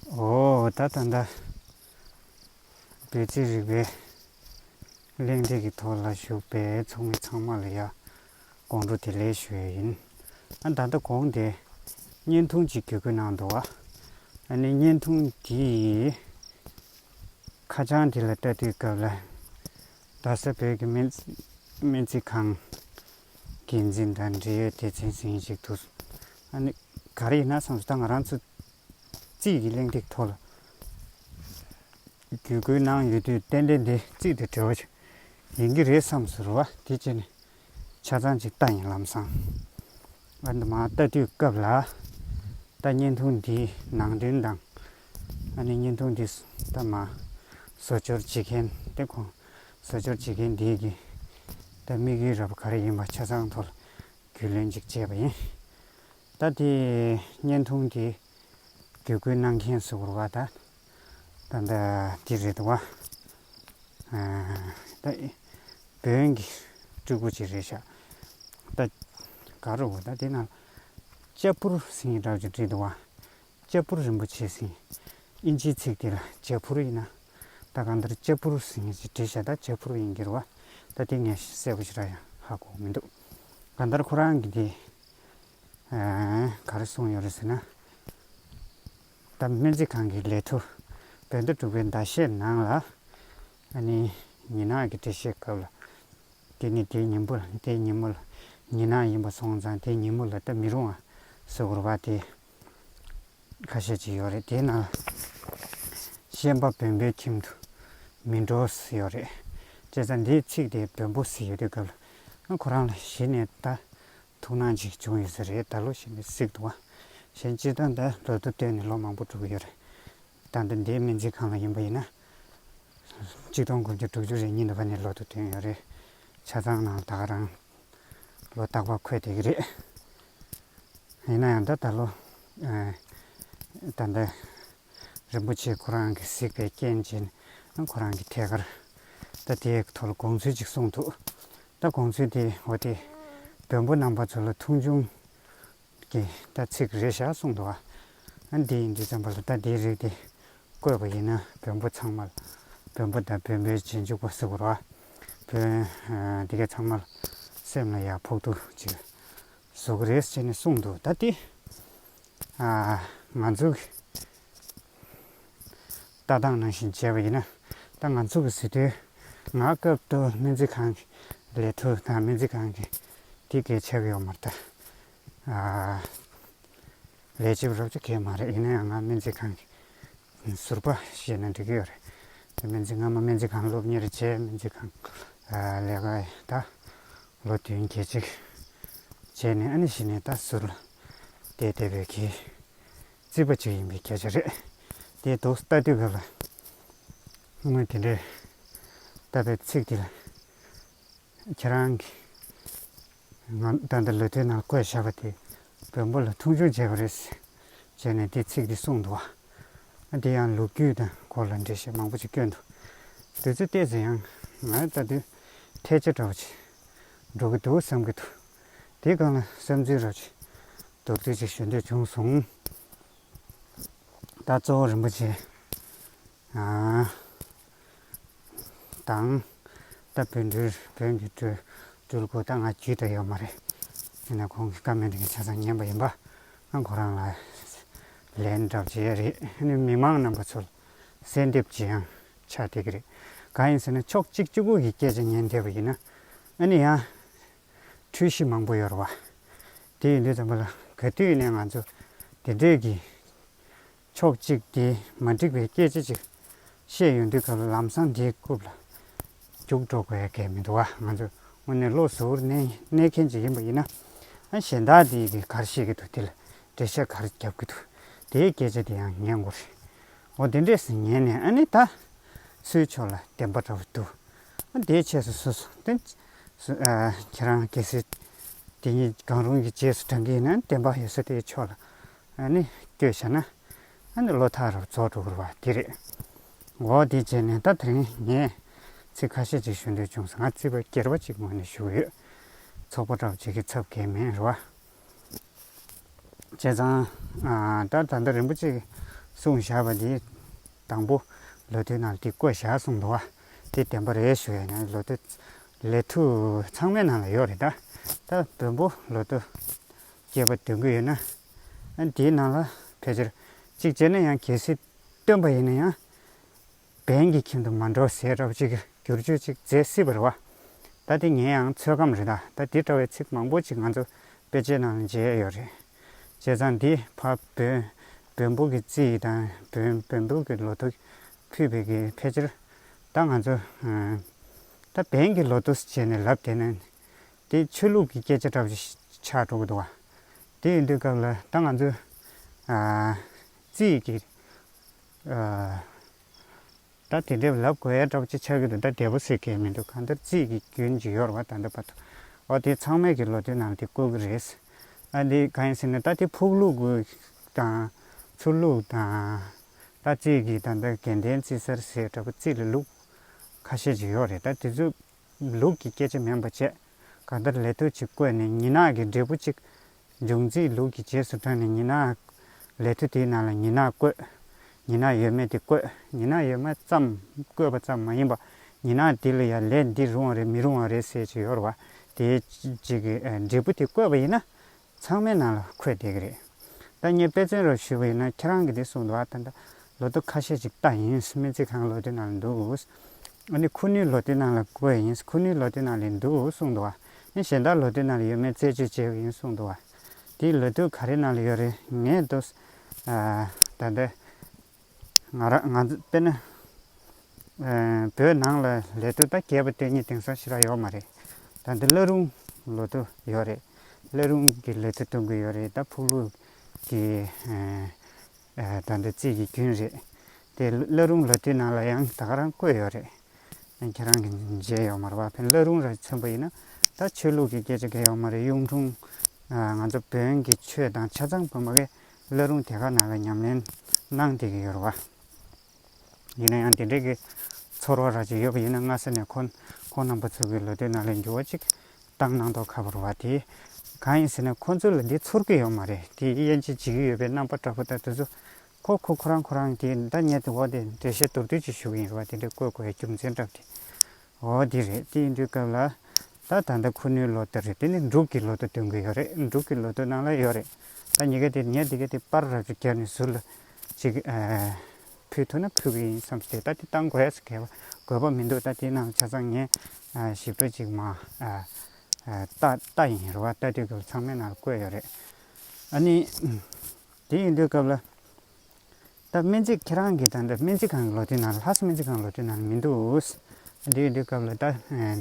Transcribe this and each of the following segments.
འོ་ད་ད་ལྟ་བོད་ཚེ་རིག་པའི་གླེང་སྟེགས་ཀྱི་ཐོག་ལ་ཞུགས་པའི་ཚོགས་མི་ཚང་མ་ལ་ཡང་དགོང་དྲོ་དེ་ལེགས་ཞུ་ཡི་ཡིན། ཨ་ད་ལྟ་དགོང་དེ་བརྙན་ཐུང་གཅིག་བརྒྱུད་དགོས་གནང་འདུག་ཨ་ནི་བརྙན་ཐུང་དེ་ཡི་ཁ་བྱང་དེ་ལ་ལྟ་དུས་སྐབས་ལ་རྡ་ས་བོད་ཀྱི་སྨན་རྩིས་ཁང། འགན་འཛིན་དང་འབྲེལ་ཡོད་སྡེ་ཚན་ཟིང་ཞིག་ཏུ། ཨ་ནི། ག་རེ་ཡིན་ན་བསམས་སོ་ད་ང་རང་ཚོ། རྩིས་ཀྱི་གླེང་སྟེགས་ཐོག་ལ། བརྒྱུད་སྐུལ་གནང་ཡོད་དུས་གཏན་འབྲེལ་འདི་རྩིས་དེ་གྲོལ་བ་ཞིག་ཡིན་གྱི་རེད་བསམས་སོ་རེད་བ་དེ་བྱས་ནས། ཆ་ཚང་ཅིག་ལྟ་ཡིན་ལམ་སང། ཨ་ནི། མ་ལྟ་དུས་སྐབས་ལ། ད་བརྙན་ཐུང་འདིའི་ནང་དོན་དང། ཨ་ནི་བརྙན་ཐུང་འདི་ད་མ། བཟོ་སྦྱོར་བྱེད་མཁན་དེ་ཁོང་བཟོ་སྦྱོར་བྱེད་མཁན་དེའི་རྒྱུན་ལྟ་དམིགས་ཡུལ་རབ་ག་རེ་ཡིན་པ་ཆ་ཚང་ཐོག་རྒྱུས་ལོན་ཅིག་བྱས་པ་ཡིན། ད་ལྟའི་བརྙན་ཐུང་དེ་བརྒྱུད་སྐུལ་གནང་མཁན་གཟུ་བོར་བ་དག་ད་ལྟ་འདི་རེད་འདུག་བ། ད་བོན་གྱི་སྤྲུལ་སྐུ་ཅིག་རེད་ཤག་ད་ག་རུ་བ་ད་དེ་ན་ལྕགས་ཕུར་སེང་གེ་གྲགས་ཅིག་བྲིས་འདུག་བ། ལྕགས་ཕུར་རིན་པོ་ཆེ་བསྲིངས། དབྱིན་ཇིའི་ཚིག་དེ་ལ་ལྕགས་ཕུར་ཡིན་ན། ད་གང་ལྟར་ལྕགས་ཕུར་བསྲིངས་ནས་ཅེས་བྲིས་ཤ་ཏག་ལྕགས་ཕུར་ཡིན་འགྱུར་བ། ད་དེ་ངས་གསལ་པོ་ཞིག་ར་ཡང་ཧ་གོ་མི་འདུག། གང་ལྟར་ཁོ་རང་གིས་དེ། ག་རེ་གསུངས་ཡོད་རེད་ཟེར་ན། ད་སྨན་རྩིས་ཁང་གི་ལས་ཐོ་བོད་ཟླ་དྲུག་པའི་ཟླ་ཤས་ནང་ལ། ཨ་ནི་ཉི་ནག་གི་འགྲེལ་བཤད་སྐབས་ལ། དེ་ནི་དེའི་ཉིན་པོ་ལ་དེའི་ཉིན་མོ་ལ་ཉི་ནག་ཡིན་པ་སོང་ཙང་དེའི་ཉིན་མོ་ལ་ལྟ་མི་རུང་ཨ། ཟེར་བར་བ་དེས། ཁ་ཤས་ཅིག་ཡོད་རེད་དེའི་ནང་ལ་ཤན་པ་བོན་པོའི་ཁྱིམ་དུ་མི་འགྲོ་ཟེར་ཡོད་རེད་བྱས་ཙང་དེའི་ཚིག་དེ་བོན་པོ་ཟེར་ཡོད་དུས་སྐབས་ལ་ཁོ་རང་ལ་གཞི་ནས་ད་ཐུགས་སྣང་ཅིག་བྱུང་ཡོད་ས་རེད་ད་ལོ་ཤན་པའི་གསེག་ཏུ་བ་གཞན་སྤྱི་དོན་ད་ལོ་དུ་བཏོན་ནས་ལོ་མང་པོ་དྲུག་ཡོད་རེད་ད་འདི་འདིའི་སྨན་རྩིས་ཁང་ལ་ཡིན་པ་ཡིན་ན་གཅིག་སྟོང་དགུ་བཅུ་དྲུག་ཅུ་རེ་གཉིས་འདུག་པ་ནས་ལོ་དུ་བཏོན་ཡོད་རེད་ཆ་ཚང་ནང་ད་རང། ལོ་རྟག་པར་འཁོད་བསྡད་ཀྱི་རེད། ཡིན་ན་ཡང་ད་ལྟ་ལོ། ད་ལྟ་རིན་པོ་ཆེ་ཁོ་རང་གིས་གཟིགས་པའི་རྐྱེན་གྱིས་ནི་ཁོ་རང་གིས་ཐད་ཀར་ད་དེའི་ཐོག་ལ་དགོངས་ཚུལ་གཅིག་གསུངས་འདུག་ད་དགོངས་ཚུལ་དེ་འོ་དེ། བོན་པོ་རྣམ་པ་ཚོ་ལ་ཐུགས་འབྱུང་རྐྱེན་ལྟ་ཚིག་རེ་བཞག་གསུངས་འདུག་ཨ། འདི་ཡིན་འདི་བརྩམས་པ་ལ་ལྟ་དེའི་རིགས་དེ་བཀོད་པ་ཡིན་ན་བོན་པོ་ཚང་མ་ལ་བོན་པོ་དང་བོན་པོའི་རྗེས་འཇུག་པ་སུ་རུ་ཨ། བོན་དེ་གས་ཚང་མ་ལ་སེམས་ལ་ཡག་ཕོག་ཐུག་ཅིག་བཟོ་གི་རེད་ཅེས་ནས་གསུངས་འདུག་ད་དེ་ང་ཚོ་གི། ལྟ་སྟངས་ནང་བཞིན་བྱས་པ་ཡིན་ན། ད་ང་ཚོ་གི་ཟི་ཐོའི་ང་སྐབས་ཏུ་སྨན་རྩིས་ཁང་གི་ལས་འཕྲོ་དང་སྨན་རྩིས་ཁང་གི་དེ་གས་ཆགས་ཡོད་མ་རེད། ལས་བྱེད་པ་རོབ་ཆ་གས་མ་རེད་ཡིན་ན་ཡང་ང་སྨན་རྩིས་ཁང་གི་ཟུར་པ་ཞེས་ན་འགྲིག་གི་ཡོད་རེད། སྨན་རྩིས་ང་མ་སྨན་རྩིས་ཁང་སློབ་གཉེར་བྱས་སྨན་རྩིས་ཁང་ལས་ཀ་ད་ལོ་བདུན་བརྒྱད་ཅིག་བྱས་ནས་ཨ་ནེ་ཞིག་ནས་ད་ཟུར་ལ་བསྡད་བསྡད་པའི་གི་རྩིས་པ་ཅིག་ཡིན་པའི་སྐད་ཆ་རེད། དེའི་དོགས་ས་ལྟ་དུས་བོད་ལ་དངུལ་དེ་འདྲའི་བཏབ་པའི་ཚིག་དེ་ལ་ཁྱེད་རང་གིས་ང་ད་ལྟ་ལོ་དེའི་ནང་བཀོད་བཞག་པ་དེ་བོན་པོ་ལ་མཐོང་ཆུང་བྱས་པ་རེད། བྱས་ནས་དེ་ཚིག་དེ་གསུངས་འདུག་ཨ། དེ་ཡང་ལོ་རྒྱུས་དང་སྐོར་ལ་འགྲེལ་བཤད་མང་པོ་ཅིག་བསྐྱོན་འདུག་དེ་ཚོ་བལྟས་ཚེ་ཡང་ང་ལྟ་དུས་ཐལ་ཆ་འདྲ་བོ་ཅིག་འགྲོ་གི་འདུག་བསམ་གྱི་འདུག་དེའི་སྒང་ལ་སེམས་འཛིན་རོགས་ཀྱི་རྡོ་རྩིག་ཅིག་ཞུ་འདོད་བྱུང་སོང། ད་གཙོ་བོ་རིན་པོ་ཆེ་དང། ད་བོན་སྤྲུལ་བོན་གྱི་སྤྲུལ་སྐུ་ད་ང་རྒྱུད་དུ་ཡོད་མ་རེད། དེ་ནས་ཁོང་གི་བཀའ་མོལ་དེ་ཆ་ཚང་ཉན་པ་ཡིན་པ། ང་ཁོ་རང་ལ་ལན་བསྒྲགས་བྱས་ཡས་རེད། ཨ་ནི་མི་མང་རྣམས་པ་ཚོ་ལ་གསལ་འདེབས་བྱེད་ཡང་ཆ་འཐད་ཀྱི་རེད། གང་ཡིན་ཟེར་ན་ཕྱོགས་གཅིག་གཅིག་པུ་ཡི་སྐད་ཆ་ཉན་འཐད་པ་ཡིན་ན། ཨ་ནི་ཡང། འཁྲུལ་གཞི་མང་པོ་ཡོད་རེད་བ། དེ་ཡིན་དུས་དང་པོ་ལ་ག་དུས་ནས་ང་ཚོ་དེ་འདྲས་ཀྱི་ཕྱོགས་གཅིག་དེ་མ་འགྲིག་པའི་སྐད་ཆ་ཅིག་བཤད་ཡོང་དུས་སྐབས་ལ་ལམ་སང་དེའི་རྐུབ་ལ་རྒྱུགས་འགྲོ་དགོས་གལ་མི་འདུག་བ་ང་ཚོ་དངོས་གནས་བློ་གཟུ་བོར་གནས་མཁན་ཅིག་ཡིན་པ་ཡིན་ན་གཞན་དག་དེ་དེ་གར་བཤད་ཀྱི་འདུག་དེ་ལ་འགྲེལ་བཤད་གར་རྒྱབ་ཀྱི་འདུག་དེའི་སྐད་ཆ་དེ་ཡང་ཉན་དགོས་རེད་འོ་དེ་འདྲས་སུ་ཉན་ནས་ཨ་ནི་ད་སུའི་ཕྱོགས་ལ་བདེན་པ་འདྲ་བོ་འདུག་དེའི་ཆས་སུ་སོ་སོ་སྟེ། ཁྱེད་རང་གལ་སྲིད་དེ་ཉིད་གང་རུང་གི་རྗེས་སུ་འབྲང་གིས་ན་བདེན་པ་ཡོད་ས་དེའི་ཕྱོགས་ལ་ནི་སྐྱོ་བྱ་ན། བློ་ཐག་རབ་རྫོགས་འགྲོ་དགོས་པ་དེ་རེད། འོ་དེའི་རྗེས་ནས་ད་དེ་རིང་ངས་ཚིག་ཁ་ཤས་ཅིག་ཞུ་འདོད་བྱུང་སོང་ང་རྩིས་པ་སྐྱེར་པ་ཅིག་ངོས་ནས་ཞུ་གི་ཡོད། ཚོགས་པ་གྲགས་བྱེད་ཀྱི་ཚབ་གལ་མིན་རེད་བ། བྱས་ཙང་ད་ད་ལྟ་རིན་པོ་ཆེ་གསུངས་བཞག་པ་དེའི་དང་པོ་ལོ་དུས་ནང་དེ་བཀོད་བཞག་གསུངས་འདུག་བ། དེ་བདེན་པ་རེད་ཞུ་ཡ་ན་ལོ་ཏོ་ལས་ཐུ་ཚང་མའི་ནང་ལ་ཡོད་རེད་ད། ད་བོན་པོ་ལོ་ཏོ་སྐྱེས་པ་འདོན་གི་ཡོད་ན་དེའི་ནང་ལ་ཕལ་ཆེར་གཅིག་བྱས་ན་ཡང་གལ་སྲིད་བཏོན་པ་ཡིན་ན་ཡང་བན་གྱི་ཁྱིམ་དུ་མ་འགྲོ་ཟས་ར་བ་ཅིག་བསྒྱུར་བཅོས་ཅིག་མཛད་སྲིད་པ་རེད་བ། ད་དེ་ངའི་ཡང་ཚོད་བགམ་རེད་ད་དེ་འདྲ་བའི་ཚིག་མང་པོ་ཅིག་ང་ཚོ་དཔེ་ཆའི་ནང་ལ་མཇལ་ཡས་ཡོད་རེད། བྱས་ཙང་འདིས་ཕ་བོན་བོན་པོ་གི་རྩིས་དང་བོན་བོན་པོ་གི་ལོ་ཐོ་ཁུལ་བོད་ཀྱི་ཕལ་ཆེར་ད་ང་ཚོ་ད་བན་གྱི་ལོ་ཏོས་བྱས་ནས་ལབ་དེ་ནས་དེ་ཆོས་ལུགས་ཀྱི་སྐད་ཆ་འདྲ་བོ་ཞིག་ཆགས་འགྲོ་གི་འདུག་བ། དེ་ཡིན་དུས་སྐབས་ལ་ད་ང་ཚོས་རྩིས་ཀྱི་ད་དེ་འདྲའི་ལབ་དགོས་ཡ་འདྲ་བོ་ཅིག་ཆགས་ཀྱི་འདུག་ད་འདས་པོ་ཟེར་གི་མི་འདུག་གང་ལྟར་རྩིས་ཀྱི་རྒྱུན་ཇི་ཡོར་བ་ད་ལྟ་བར་དུ་འོ་དེ་ཚང་མས་ཀྱི་ལོ་ཏོའི་ནང་དེ་བཀོལ་གི་རེད། ཨ་དེ་གང་ཡིན་ཟེར་ན་ད་དེ་ཕུག་ལུགས་དང་ཚུར་ལུགས་དང། ད་ཅིག་གིས་ད་འདི་གན་དྷའི་རྩིས་གསར་ཟེར་དྲག་པོ་རྩིས་ལ་ལུགས་ཁ་ཤས་ཀྱི་ཡོད་རེད་ད་དེ་ཚོས་ལུགས་ཀྱི་སྐད་ཆ་མིན་པ་བཅས་ག་ལྟར་ལས་ཐོལ་ཅིག་བཀོད་ནས་མྱི་ནག་གི་འབྲས་བུ་གཅིག་འབྱུང་རྩིས་ལུགས་ཀྱི་རྗེས་སུ་འབྲངས་ནས་མྱི་ནག་ལས་ཐོལ་དེའི་ནང་ལ་མྱི་ནག་བཀོད་མྱི་ནག་ཡོད་མེད་དེ་བཀོད་མྱི་ནག་ཡོད་མེད་ཙམ་བཀོད་པ་ཙམ་མ་ཡིན་པ་མྱི་ནག་དེ་ལ་ཡང་ལས་འདི་རུང་བ་རེད་མི་རུང་བ་རེད་ཟེར་གྱི་ཡོད་རེད་བ་དེའི་ཅིག་གི་འབྲས་བུ་དེ་བཀོད་པ་ཡིན་ན་ཚང་མའི་ནང་ལ་འཁོད་བསྡད་ཀྱི་རེད། ད་ངས་དཔེ་མཚོན་རོགས་ཞུས་པ་ཡིན་ན་ཁྱེད་རང་གིས་དེ་གསུངས་འདུག་ཨ་ད་ད་ལོ་ཏོག་ཁ་ཤས་ཅིག་བཏགས་ཡིན། སྨན་རྩིས་ཁང་ལོ་དེའི་ནང་ལ་འདུག། ཨ་ནི་ཁུ་ནུའི་ལོ་དེའི་ནང་ལ་བཀོད་ཡིན། ཁུ་ནུའི་ལོ་དེའི་ནང་ལས་འདུག་གསུངས་འདུག་ཨ་ནི་གཞན་དག་ལོ་དེའི་ནང་ལ་ཡོད་མེད་རྩད་གཅོད་བྱེད་དགོས་ཡིན་གསུངས་འདུག་ཨ་དེའི་ལོ་དུས་ག་རེའི་ནང་ལ་ཡོད་རེད་ངས་ཏོག་ཨ་ད་ད། ང་རང་ང་ཚོ་དཔེར་ན་བོད་ནང་ལ་ལས་དོ་ད་རྒྱས་པ་དེ་གཉིས་དེང་སང་ཕྱི་ལ་ཡོད་མ་རེད། ད་འདི་བླ་རུང་ལོ་དོ་ཡོད་རེད། བླ་རུང་གི་ལས་དོ་གཏོང་གི་ཡོད་རེད་ད་ཕུག་ལུག་གི་ད་འདི་རྩིས་ཀྱི་རྒྱུན་རེད། དེ་བླ་རུང་ལོ་དེ་ནང་ལ་ཡང་ད་ཁ་རང་བཀོད་ཡོད་རེད། ཡང་ཁྱེད་རང་གི་མཇལ་ཡོད་མ་རེད་བ་ཕན་བླ་རུང་ར་མཚོན་པ་ཡིན་ན་ད་ཆོས་ལུགས་ཀྱི་སྐད་ཆ་འགལ་ཡོད་མ་རེད་གཡུང་དྲུང་ང་ཚོ་བོན་གྱི་ཆོས་དང་ཆ་ཚང་བོད་མ་གས་བླ་རུང་དེ་ག་ནང་ལ་ཉམས་ལེན་གནང་བསྡད་ཀྱི་ཡོད་རེད་བ། ཡིན་ན་ཡང་དེ་འདྲའི་གི་ཚོར་བ་ར་ཅིག་ཡོད་པ་ཡིན་ན་སྔ་ས་ནས་ཁོང་རྣམ་པ་ཚོའི་གི་ལོ་དོད་ནང་ལས་འགྱུར་བ་ཅིག་བཏང་གནང་མདོག་ཁ་བོ་རེད་བ། དེ་གང་ཡིན་ཟེར་ན་ཁོང་ཚོ་ལ་འདི་ཚོར་གི་ཡོད་མ་རེད་དེ་དབྱེ་འབྱེད་བྱེད་ཀྱི་ཡོད་པའི་རྣམ་པ་འདྲ་པོ་དག་དེ་ཚོ་ཁོ་ཁོ་ཁོ་རང་ཁོ་རང་གི་བདག་གཉེར་དེ་འོག་དེ་འགྲེལ་བཤད་མདོར་བསྡུས་ཅིག་ཞུ་གི་ཡིན་རེད་བ་དེ་འདྲ་བཀོད་དགོས་བའི་རྒྱུ་མཚན་གྲབས་དེ་འོ་དེ་རེད་དེ་ཡིན་དུས་སྐབས་ལ་ད་ད་ལྟ་ཁོ་ནུའི་ལོ་དུ་རེད་དེ་ནི་འབྲུག་གི་ལོ་དུ་སྟོན་གི་ཡོད་རེད་འབྲུག་གི་ལོ་དུ་ནང་ལ་ཡོད་རེད་ད་ཉི་ག་དེ་ཉལ་འདི་ག་དེ་པར་རབ་རིབ་བརྒྱབ་ནས་ཟུར་ལ་ཅིག་ཕུལ་ཐུབ་ན་ཕུལ་གི་ཡིན་བསམས་ཏེ་ད་དེ་བཏང་དགོས་ཟེར་གི་དགོས་པ་མི་འདུག་ད་དེ་ནང་ཆ་ཚང་ངས་ཞིབ་ཕྲ་ཅིག་མ་བལྟ་ཡིན་རུང་བ་བལྟ་དུས་སྐབས་ཚང་མའི་ནང་ལ་བཀོད་ཡོད་རེད་ཨ་ནི་དེ་ཡིན་དུས་སྐབས་ལ། ད་སྨན་རྩིས་ཁྱེད་རང་གིས་ད་སྨན་རྩིས་ཁང་གི་ལོ་དུས་ནང་ལྷ་ས་སྨན་རྩིས་ཁང་གི་ལོ་དུས་ནང་མི་འདུག། འདིའི་འདི་སྐབས་ལ་ད་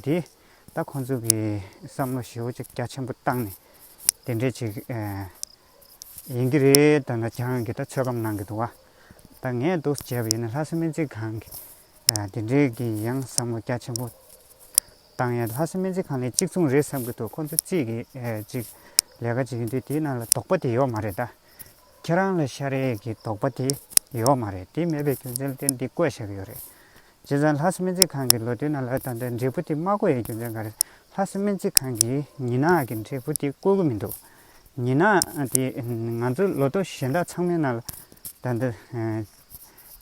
འདི་ད་ཁོང་ཚོ་གི་བསམ་བློ་ཞེ་བོ་ཅིག་རྒྱ་ཆེན་པོ་བཏང་ནས་དེ་འདྲས་ཅིག་ཡིན་གྱི་རེད་ད་ཆ་གང་གི་ད་ཚོད་བགམ་གནང་གི་འདུག་བ། ད་ངས་འདུག་བྱས་པ་ཡིན་ན་ལྷ་ས་སྨན་རྩིས་ཁང་གི་དེ་འདྲས་ཀྱི་ཡང་བསམ་བློ་རྒྱ་ཆེན་པོ་བཏང་ཡང་ལྷ་ས་སྨན་རྩིས་ཁང་ལས་གཅིག་མཚུངས་རེད་བསམ་གྱི་འདུག་ཁོང་ཚོ་རྩིས་ཀྱི་ཅིག་ལས་ཀ་ཅིག་ཡིན་དུས་དེའི་ནང་ལ་དོགས་པ་དེ་ཡོད་མ་རེད་ད། ཁྱེད་རང་ལ་ཤ་རེག་གི་དོགས་པ་དེ་ཡོད་མ་རེད་དེ་མེད་པའི་རྒྱུ་མཚན་ལྟེ་འདི་བཀོད་བཞག་ཡོད་རེད། རྗེ་བཙན་ལྷ་ས་སྨན་རྩིས་ཁང་གི་ལོ་དུས་ནང་ལ་ད་ལྟའི་འབྲས་བུ་དེ་མ་བཀོད་ཡའི་རྒྱུ་མཚན་ག་རེད་ལྷ་ས་སྨན་རྩིས་ཁང་གིས་ཉི་ནག་གི་འབྲས་བུ་དེ་བཀོད་གི་མི་འདུག་ཉི་ནག་དེ་ང་ཚོ་ལོ་ཏོག་གཞན་དག་ཚང་མའི་ནང་ལ་ད་ལྟ་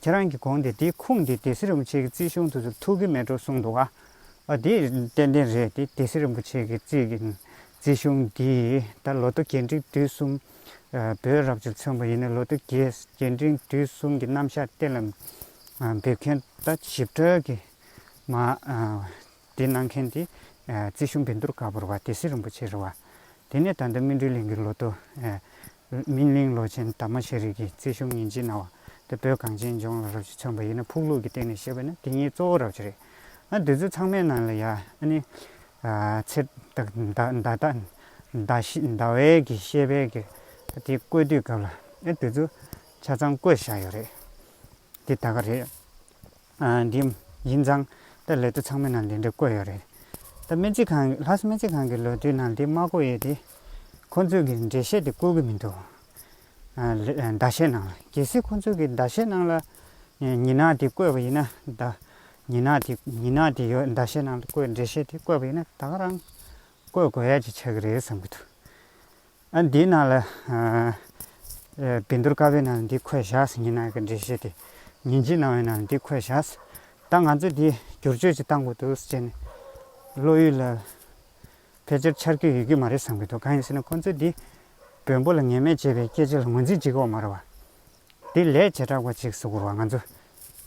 ཁྱེད་རང་གི་དགོངས་དེ་དེའི་ཁུངས་དེ་དེ་སི་རིན་པོ་ཆེ་གི་རྩིས་གཞུང་དུ་ཚུར་ཐུག་གི་མེད་འགྲོ་གསུངས་འདུག་ཨ་དེ་ཏན་ཏན་རེད་དེ་དེ་སི་རིན་པོ་ཆེ་གི་རྩིས་གཞུང་འདི་ད་ལོ་ཏོག་གྱེས་འབྲིང་དུས་གསུམ། བོད་རབ་བྱུང་ཚན་པ་ཡིན་ན་ལོ་དུས་རྒྱས་རྒྱས་འབྲིང་དུས་གསུམ་གྱི་རྣམ་གཞག་གཏན་ལ་འབེབས་མཁན་དང་ཞིབ་ཕྲ་གི་མ་དེ་གནང་མཁན་དེ་རྩིས་གཞུང་བན་དུར་དཀར་པོར་བ་དེ་སྲིད་རིན་པོ་ཆེར་བ་དེ་ནས་ད་ལྟ་སྨིན་གྲོལ་གླིང་གི་ལོ་དུ་སྨིན་གླིང་ལོ་ཆེན་དར་མ་ཤེས་རིག་གི་རྩིས་གཞུང་ཉིན་བྱེད་གནང་བ་དེ་བོད་གངས་ཅན་ལྗོངས་ལ་རབ་བྱུང་ཚན་པ་ཡིན་ན་ཕུག་ལུགས་ཀྱི་སྟེང་ནས་བཤད་པ་ན་དེ་ཉིད་གཙོ་བོ་རབ་བྱུང་རེད། ང་འདི་ཚོ་ཚང་མའི་ནང་ལ་ཡ་ཨ་ནི་ཚེ་བདག་མདའ་དག་མདའ་བས་ཀྱི་ཤེས་པས་ཀྱི་དེ་བཀོད་དུས་སྐབས་ལ་ཨེ་དེ་ཚོ་ཆ་ཚང་བཀོད་བཞག་ཡོད་རེད། དེ་ད་ག་རེད། འདི་ཡིན་ཙང་ད་ལས་དོ་ཚང་མའི་ནང་འདི་འདྲ་བཀོད་ཡོད་རེད། ད་སྨན་རྩིས་ཁང་ལྷ་ས་སྨན་རྩིས་ཁང་གི་ལོ་དུས་ནང་འདི་མ་བཀོད་ཡོད་དེ། ཁོང་ཚོས་ཀྱི་འགྲེལ་བཤད་དེ་བཀོད་ཀྱི་མི་འདུག། ཟླ་ཤས་ནང་ལ་གལ་སྲིད་ཁོ་ཚོས་ཀྱི་ཟླ་ཤས་ནང་ལ་ཉི་ནག་དེ་བཀོད་པ་ཡིན་ན། ཉི་ནག་དེ་ཉི་ནག་དེ་ཡོད་ཟླ་ཤས་ནང་ལ་བཀོད་འགྲེལ་བཤད་དེ་བཀོད་པ་ཡིན་ན་ད་ག་རང་བཀོད་དགོས་ཡ་གཅིག་ཆགས་ཀྱི་རེད་བསམ་གྱི་འདུག་ཨ་འདིའི་ནང་ལ། བི་འདུར་ཀ་བའི་ནང་ལ་འདི་འཁོད་བཞག་ཟིན་ཉི་ནག་གི་འགྲེལ་བཤད་དེ་ཉིན་གཅིག་ནང་བའི་ནང་ལ་འདི་འཁོད་བཞག་ཟིན་ད་ང་ཚོས་འདི་བསྒྱུར་བཅོས་ཅིག་བཏང་དགོས་འདུག་ཟེར་ནས་བློ་ཡུལ་ལ། ཕལ་ཆེར་འཆར་གྱི་ཡོད་ཀྱི་མ་རེད་བསམ་གྱི་འདུག་གང་ཡིན་ཟེར་ན་ཁོང་ཚོས་འདི་བོན་པོ་ལ་ངན་སྨྲས་བྱེད་པའི་སྐད་ཆ་ལ་ངོས་འཛིན་བྱེད་ཀྱི་འོག་མ་རེད་བ། དེ་ལས་བྱེ་བྲག་པ་ཅིག་སུ་གོ་བ་ང་ཚོ་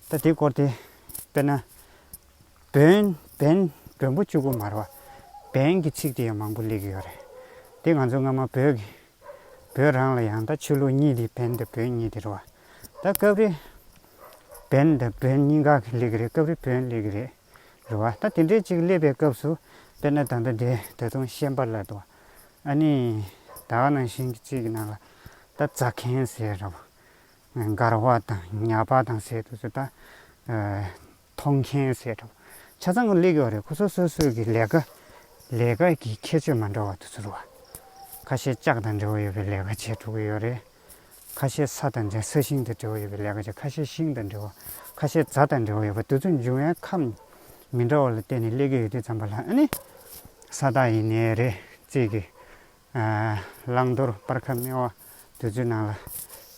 ད་དེ་སྐོར་དེ་དཔེར་ན། བོན་བན་བོན་པོ་བཅུ་གོ་མ་རེད་བ། བན་གྱི་ཚིག་དེ་ཡང་མང་པོ་གླེགས་ཀྱི་ཡོད་རེད། དེ་ང་ཚོ་སྔ་མ་བོད་ཀྱི་བོད་རང་ལ་ཡང་ད་ཆོས་ལུགས་གཉིས་དེ་བན་དང་བོན་གཉིས་དེ་རེད་བ། ད་སྐབས་རེ་བན་དང་བོན་གཉིས་འགག་གི་གླེགས་ཀྱི་རེད་སྐབས་རེ་བོན་གླེགས་ཀྱི་རེད། རེད་བ། ད་དེ་འདྲའི་ཅིག་སླེབས་པའི་སྐབས་སུ། དཔེར་ན་ད་ལྟ་འདི་ད་དུང་ཤན་པ་ལ་དུ། ཨ་ནི། ད་བ་ནང་བཞིན་གྱི་ཅིག་གི་ནང་ལ། ད་རྩ་ཁེན་ཟེར་ར་བ། མགར་བ་དང་ཉག་པ་དང་ཟེར་དུས་སུ་ད། མཐོང་ཁེན་ཟེར་ར་བ། ཆ་ཚང་གི་སླེབས་ཀྱི་བ་རེད་ཁོ་ཚོ་སོ་སོའི་གི་ལས་ཀ། ལས་ཀ་གི་ཁྱད་ཆོས་མ་འདྲ་བ་དུ་ཚུར་བ། ཁ་ཤས་ལྕགས་དང་འབྲེལ་བ་ཡོད་པའི་ལས་ཀ་བྱས་འགྲོ་གི་ཡོད་རེད། ཁ་ཤས་ས་དང་འབྲེལ་ས་ཤིང་དང་འབྲེལ་བ་ཡོད་པའི་ལས་ཀ་བྱེད་ཁ་ཤས་ཤིང་དང་འབྲེལ་བ་ཁ་ཤས་རྫ་དང་འབྲེལ་བ་ཡོད་པ་དེ་ཚོ་འབྱུང་བའི་ཁམས་མི་འདྲ་བ་ལ་བརྟེན་ནས་ཀླད་ཀྱི་ཡུལ་དུས་ཙམ་པ་ལ་ནི་ས་བདག་ཡིན་ནའི་རེ་རྩིས་ཀྱི་བླང་དོར་སྤར་ཁ་སྨེ་བ་དུས་ཚོད་ནང་ལ་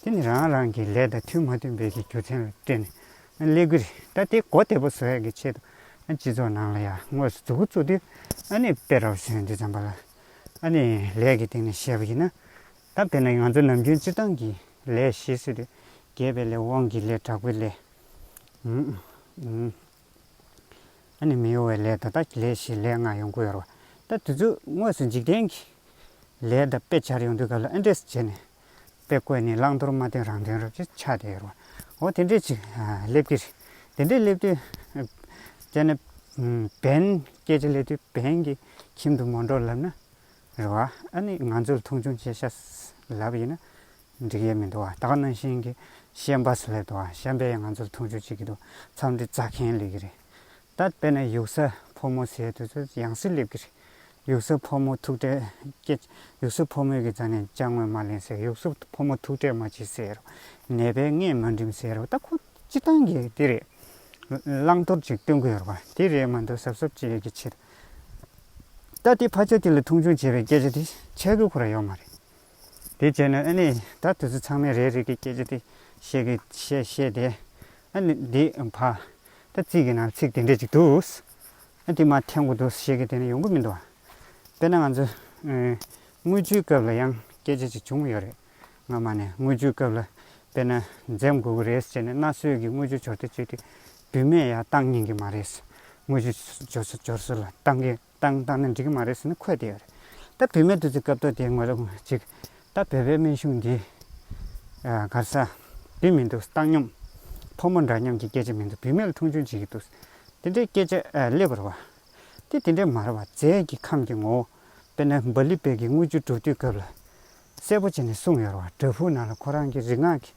དེ་ནི་རང་རང་གི་ལས་དང་མཐུན་མ་མཐུན་བེད་ཀྱི་རྒྱུ་མཚན་ལ་བརྟེན་ནས་ཀླད་ཀྱི་རིགས་ད་ལྟའི་གོ་བདེ་པོ་བཟོ་ཡག་གི་ཆེད་དུ་སྤྱི་ཚོགས་ནང་ལ་ཡང་དངོས་སུ་འཛུགས་སྐུ་བཙུགས་དུས་ཨ་ནི་དཔེ་ར་བ་ཞོན་དུས་ཙམ་པ་ལ་ཨ་ནི་ལས་ཀྱི་སྟེང་ནས་བཤད་པ་ཡིན་ན་སྟབས་དེ་ལས་ང་ཚོ་ནམ་རྒྱུན་སྤྱིར་བཏང་གི་ལས་ཞེས་ཟེར་དུས་རྒས་པའི་ལས་དབང་གི་ལས་དྲག་པོའི་ལས། ཨ་ནེ་མི་གཡོ་བའི་ལས་དོ་བདག་གི་ལས་ཞེས་ལས་ལྔ་ཡོང་གི་ཡོད་རེད། ད་དུས་ཚོད་དངོས་སུ་འཇིག་རྟེན་གྱི་ལས་དང་དཔེ་ཆར་ཡོང་དུས་སྐབས་ལ་ཨེ་འདྲས་སུ་བྱས་ནས་དཔེ་བཀོད་ནས་བླང་དོར་མ་སྟོན་རང་དོན་རབ་ཅིག་ཆགས་བསྡད་ཡོད་རེད། འོ་དེ་འདྲས་ཅིག་སླེབས་ཀྱི་རེད། དེ་འདྲས་སླེབས་དུས་དཔྱད་ན་བན་སྐད་ཆ་སླེབས་དུས་བན་གྱི་ཁྱིམ་དུ་མ་འགྲོ་ལབ་ན་རེད་བ། ཨ་ནི་ང་ཚོར་མཐོང་ཆུང་བྱེད་ཤ་ལབ་ཡིན་ན་འགྲིག་ཡས་མི་འདུག་བ། ད་ག་ནང་བཞིན་གི་ཤན་པ་སུ་ལས་འདུག་བ། ཤན་པས་ཡང་ང་ཚོར་མཐོང་ཆུང་བྱེད་ཀྱི་འདུག་མཚམས་འདི་རྩ་ཁེན་ལེ་གི་རེད། ད་དཔེ་ན་ཡུག་ས་ཕོ་མོ་ཟེར་དུས་ཚོད་ཡང་སེ་སླེབ་གི་རེད། ཡུག་ས་ཕོ་མོ་ཐུག་འཕྲད་སྐད། ཡུག་ས་ཕོ་མོས་གི་རྩ་ནས་ཅང་ངོས་མ་ལེན་ཟེར། ཡུག་ས་ཕོ་མོ་ཐུག་འཕྲད་མ་བྱེད་ཟེར། ནད་པས་སྔས་མ་འགྲིམ་ཟེར་བ་ད་ཁོ། སྤྱི་བཏང་གི་དེ་རེད། བླང་དོར་ཅིག་སྟོན་གི་ཡོད་པ་དེ་རེད་མ་འདུག་ཟབ་ཟབ་ཅིག་ཡོད་ཀྱི་ཕྱིར། ད་དེ་ཕ་ཆ་དེ་ལ་མཐོང་ཆུང་བྱེད་པའི་སྐད་ཆ་དེ་འཆད་དགོས་ཁོ་ར་ཡོད་མ་རེད། དེ་བྱས་ན་ཨ་ནི་ད་དེ་ཚོ་ཚང་མས་རེད་རེད་ཀྱི་སྐད་ཆ་དེ་བཤད་གི་བཤད་བཤད་དེ། ཨ་ནི་དེ་ཕ། ད་ཚིག་གི་ནང་ཚིག་དེ་འདྲས་ཅིག་འདུག། ཨ་དེ་མ་འཐེན་གོ་འདུག་བཤད་གི་དེ་ནི་ཡོང་གི་མི་འདུག། དཔེར་ན་ང་ཚོ། དངུལ་ཆུའི་སྐབས་ལ་ཡང་སྐད་ཆ་ཅིག་བྱུང་གི་ཡོད་རེད། སྔ་མ་ནས་དངུལ་ཆུའི་སྐབས་ལ་དཔེར་ན་འཛེམ་དགོས་ཀྱི་རེད་ཟེར་ནས་གནའ་སྲོལ་གྱི་དངུལ་ཆུ་སྦྱོར་སྡེ་བཅུ་དེ་བདུན་མེད་ཡ་བཏང་སྙིང་གི་མ་རེད། དངུལ་ཆུ་སྦྱོར་སྲོལ་ལ་བཏང་གི་བཏང་བཏང་ན་འགྲིག་གི་མ་རེད་ཟེར་ནས་འཁོད་བསྡད་ཡོད་རེད། ད་བུད་མེད་དུ་ཚུད་སྐབས་ཐོག་དེའི་ངོས་ལ་གཅིག་ད་བོད་པའི་སྨན་གཞུང་འདི་གར་ས་དེ་མི་འདུག་བཏང་སྙོམས་ཕོ་མོ་འདྲ་མཉམ་གྱི་སྐད་ཆ་མི་འདུག་བུད་མེད་ལ་མཐོང་ཆུང་བྱེད་ཀྱི་འདུག་དེ་འདྲའི་སྐད་ཆ་ལེགས་པར་བ་དེ་དེ་འདྲའི་མ་རེད་བ་རྫས་ཀྱི་ཁམས་ཀྱི་ངོ་བོ་དཔེར་ན་འབའ་ལི་བེ་གི་དངུལ་ཆུ་སྒྲུབ་དུས་སྐབས་ལ། གསལ་པོ་བྱས་ནས་གསུངས་ཡོད་རེད་བ་དྲ་ཕུག་ནང་ལ་ཁོ་རང་གི་རིག་སྔགས་ཀྱི་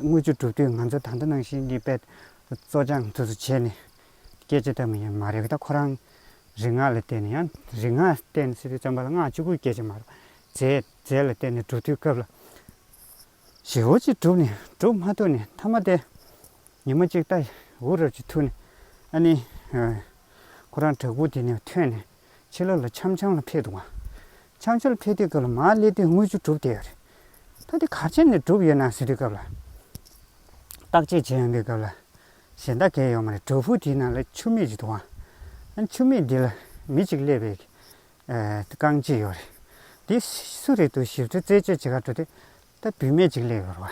དངུལ་ཆུ་བསྒྲུབས་དུས་ང་ཚོ་ད་ལྟ་ནང་བཞིན་གྱི་དཔེ་བཙོ་སྦྱང་དུ་བྱས་ནས་སྐད་ཆ་བལྟ་མི་ཡོད་མ་རེད་གདའ་ཁོ་རང་རིག་སྔགས་ལ་བརྟེན་ནས་ཡང་རིག་སྔགས་བརྟེན་ནས་སྲིད་པའི་བཙོན་པ་ལ་སྔགས་བཅུ་དགུའི་སྐད་ཆ་མ་རེད་རྫས་རྫས་ལ་བརྟེན་ནས་བསྒྲུབས་དུས་སྐབས་ལ་ཞེ་བོ་ཅིག་བསྒྲུབས་ནས་བསྒྲུབས་མ་ཐུབ་ནས་མཐའ་མ་དེ་ཉི་མ་གཅིག་ལྟ་འུར་རབ་ཅིག་ཐུག་ནས་ཨ་ནི་ཁོ་རང་བྲག་ཕུག་དེ་ནས་ཐོན་ནས་ཕྱི་ལོགས་ལ་འཆམ་འཆམ་ལ་འཕེལ་འདུག་བ། འཆམ་འཆམ་ལ་འཕེལ་དུས་སྐབས་ལ་མར་སླེབས་དུས་དངུལ་ཆུ་གྲུབ་བསྡད་ཡོད་རེད། ད་དེ་གར་ཆེན་ནས་གྲུབ་ཡོད་ནང་ཟེར་དུས་སྐབས་ལ། བརྟག་དཔྱད་བྱེད་ཡོང་དུས་སྐབས་ལ། གཞན་དག་གས་ཡོང་མ་རེད་གྲོ་ཕུག་དེའི་ནང་ལ་ཆུ་མིག་ཅིག་འདུག་བ། ཨ་ཆུ་མིག་འདི་ལ་མི་གཅིག་སླེབས་པའི། རྐང་གཅིག་ཡོད་རེད། དེ་སུ་རེད་འདུག་ཞིབ་ཕྲ་རྩད་གཅོད་བྱེད་ཁར་འགྲོ་དུས། ད་བུད་མེད་ཅིག་སླེབས་ཡོད་རེད་བ།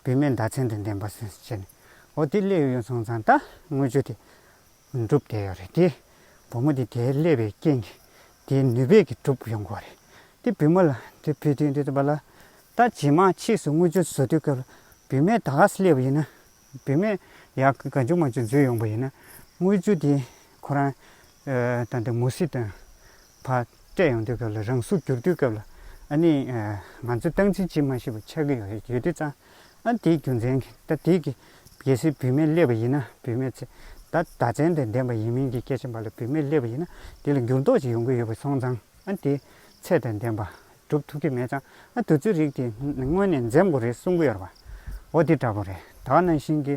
བུད་མེད་མདའ་ཚན་དང་ལྡན་པ། ཟེར་ནས། འོ་དེ་སླེབས་ཡོང་སོང་ཙང་ད་དངུལ་ཆུ་དེ། འགྲུབ་བསྡད་ཡོད་རེད་དེ། བུ་མོ་དེ་དེའི་ཀླད་པའི་རྐྱེན་གྱིས་དེའི་ནུས་པས་ཀྱིས་གྲུབ་ཡོང་གི་བ་རེད། དེ་བུ་མོ་ལ་དེ་བུ་དེ་འདི་ལྟ་བ་ལ། ད་རྗེས་མ་ཕྱིས་སུ་དངུལ་ཆུ་བཟོ་དུས་སྐབས་ལ་བུད་མེད་ད་ག་ས་སླེབས་པ་ཡིན་ན། བུད་མེད་ཡ་ག་ཆུང་མ་ཆུང་འཛུལ་ཡོང་པ་ཡིན་ན། དངུལ་ཆུ་དེ་ཁོ་རང་དང་དེ་མུ་ཟི་དང། བ། སྤྲད་ཡོང་དུས་སྐབས་ལ་རང་གཟུགས་བསྒྱུར་དུས་སྐབས་ལ་ཨ་ནི། ང་ཚོས་སྟངས་འཛིན་བྱེད་མ་ཤེས་པ་ཆགས་ཀྱི་ཡོད་རེད་ཡོད་དུས་ཙང་ཨ་དེའི་རྒྱུ་མཚན་གྱིས་ད་དེའི་གི་གལ་སྲིད་བུད་མེད་སླེབས་པ་ཡིན་ན་བུད་མེད་ཚེ་ད་ད་ཚན་དེ་ལྡན་པ་ཡིན་མིན་གྱི་སྐད་ཆ་འབའ་ལ་བུད་མེད་སླེབས་པ་ཡིན་ན་དེ་ལ་འགྱུར་ལྡོག་ཅིག་ཡོང་གི་ཡོད་པ་སོང་ཙང་ཨ་དེའི་ཚད་དེ་ལྡན་པ་སྒྲུབ་ཐུབ་ཀྱི་མེད་ཙང་ཨ་དུས་ཚོད་རིགས་དེ་སྔོན་ནས་འཛེམ་དགོས་རེད་གསུང་གི་ཡོད་རེད་པ། འོ་དེ་འདྲ་པོ་རེད་ད་ནང་བཞིན་གྱི་